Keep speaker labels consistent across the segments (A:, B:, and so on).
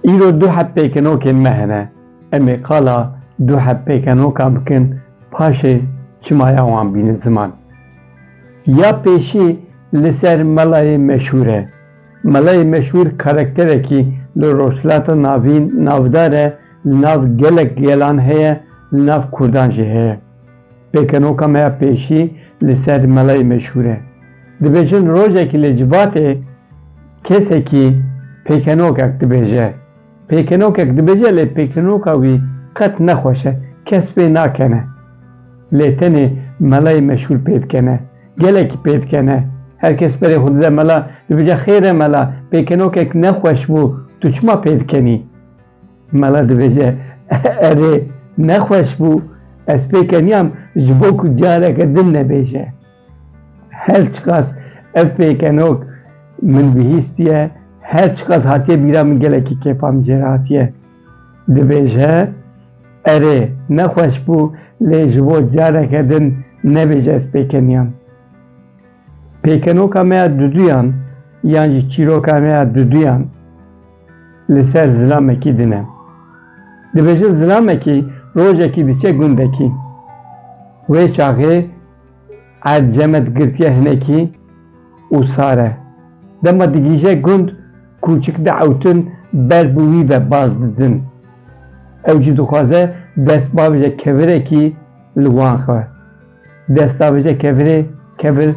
A: Îro du hevpêkenokên me hene. Em ê qala du hevpêkenokan bikin paşê çimaya wan bînin ziman. Ya pêşî li ser melayê meşhûr e. Melayê meşhûr karakterekî li Rojhilata Navîn navdar e, li nav gelek gelan heye, li nav Kurdan jî heye. Pêkenoka me ya pêşî li ser melayê meşhûr e. Dibêjin rojekî li Cibatê kesekî pêkenokek dibêje. Pêkenokek dibêje lê pêkenoka wî qet ne xweş e, kes pê nakene. Lê tenê melayê meşhûr pê dikene. Gelekî pê dikene. Her kes berê xwe dide mela, dibêje xêr e mela, pêkenokek ne xweş bû, tu çima pê dikenî? Mala dibêje, Erê, nexweş bû, ez pê keniyam ji bo ku careke din nebêje. Her çiqas ev pêkenok min bihîstiye, her çiqas hatiye bîra min gelekî kêfa min jê re hatiye. Dibêje, Erê, nexweş bû, lê ji bo careke din nebêje ez pê keniyam. Pêkenoka me ya duduyan yan jî çîroka me ya duduyan li ser zilamekî din e. Dibêjin zilamekî rojekî diçe gundekî. Wê çaxê erd cemed girtiye hinekî û sar e. Dema digîje gund kûçik diewtin ber bi wî ve baz didin. Ew jî dixwaze dest bavêje kevirekî li wan xwe. Destawêje kevirê, kevir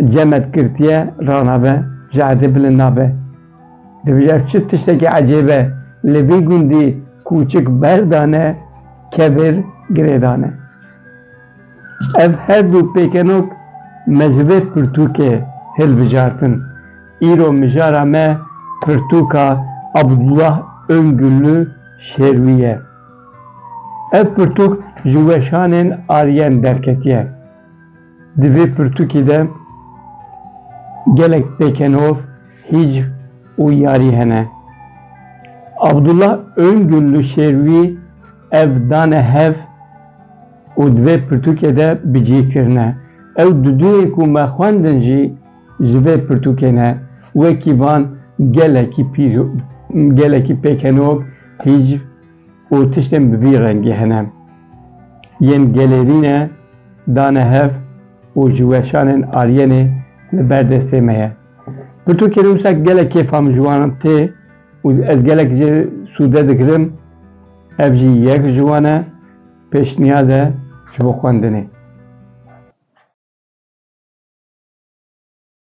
A: cemed girtiye ranabe, ji erdê bilind nabe. Dibêje ev çi tiştekî ecêb e, li vî gundî kûçik berdane, kevir girêdane. Ev her du pêkenok me ji vê pirtûkê hilbijartin. Îro mijara me pirtûka Abdullah Öngüllü Şêrwî ye. Ev pirtûk ji weşanên Aryen derketiye. Di vê pirtûkê de gelek pêkenov, hîcv û yarî hene. Abdullah Öngül li Şêrwî ev dane hev û di vê pirtûkê de bi cî kirine. Ew di duyên ku me xwendin jî, Ji vê pirtûkê ne wekî van gelekî pîr û gelekî pêkenog, hîcv û tiştên bi vî rengî hene. Yên gelê vî ne dane hev û ji weşanên Aryenê li ber destê me ye. Pirtûkê ne wisa gelek kêfa min ji wan tê û ez gelek jê sûde digirim. Ev jî yek ji wan e. Pêşniyaz e ji bo xwendinê.